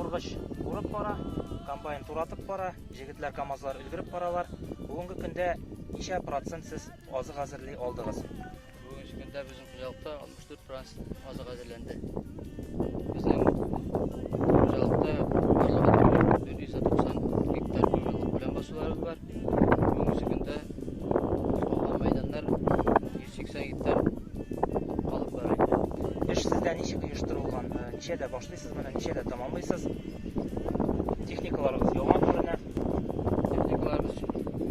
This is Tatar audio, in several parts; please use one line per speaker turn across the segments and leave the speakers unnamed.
Ургыч урып бара, комбайн туратып бара, җегетләр камазлар өлгереп баралар. Бүгенге көндә ничә процент сез азык әзерли алдыгыз? Бүгенге көндә
безнең хуҗалыкта 64 процент азык әзерләнде. Безнең хуҗалыкта барлыгы 490 гектар көмелек белән басуларыбыз бар. Бүгенге көндә алган мәйданнар 180 гектар алып бара инде. Эш сездә
ничек оештырылган? Э, ничәдә башлыйсыз моны, ничәдә тәмамлыйсыз? Техникаларыгыз яңа күренә. Техникаларыбыз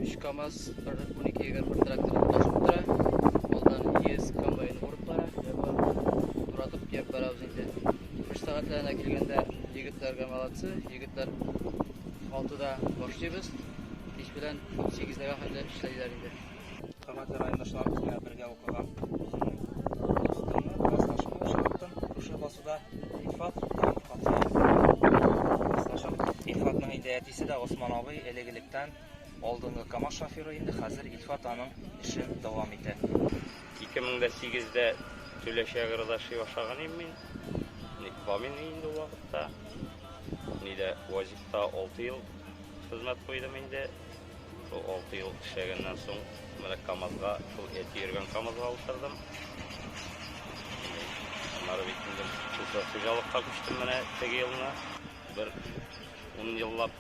3 КАМАЗ, 12 егер бер трактор таш утыра. Алдан ЕС комбайн урып бара. Туратып кеп барабыз инде. Эш сәгатьләренә килгәндә, егетләргә молодцы, егетләр Алтыда башлыйбыз, кич белән сигезләргә хәтле эшләйләр инде. Хөрмәтле
райондашлар, менә бергә укыган дустымны, классташымны очраттым. Шушы басуда Илфат һәм Фатыйх. Классташым Илфатның инде әтисе дә Госман абый, элек-электән алдынгы КАМАЗ шоферы инде, хәзер Илфат аның эшен дәвам итә. Ике мең дә
сигездә Төләче агродаши ашаган идем мин. Ник бамин инде ул вакытта. Ни дә Вазикта алты ел хезмәт куйдым инде. Шул алты ел эшләгәннән соң, менә КАМАЗга, шул әти йөргән КАМАЗга утырдым. Аннары бит инде шушы хуҗалыкка күчтем менә теге елны. Бер ун еллап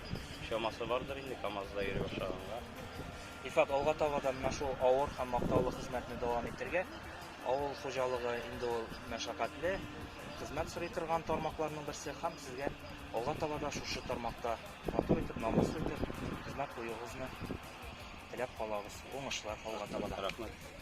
чамасы бардыр инде КАМАЗда йөри башлаганга. Илфат,
алга таба да менә шул авыр һәм мактаулы хезмәтне дәвам итәргә. Авыл хуҗалыгы инде ул мәшәкатьле, хезмәт сорый торган тармакларның берсе һәм сезгә алга таба да шушы тармакта матур итеп, намуслы итеп хезмәт куюыгызны теләп калабыз. Уңышлар алга таба да. Рәхмәт.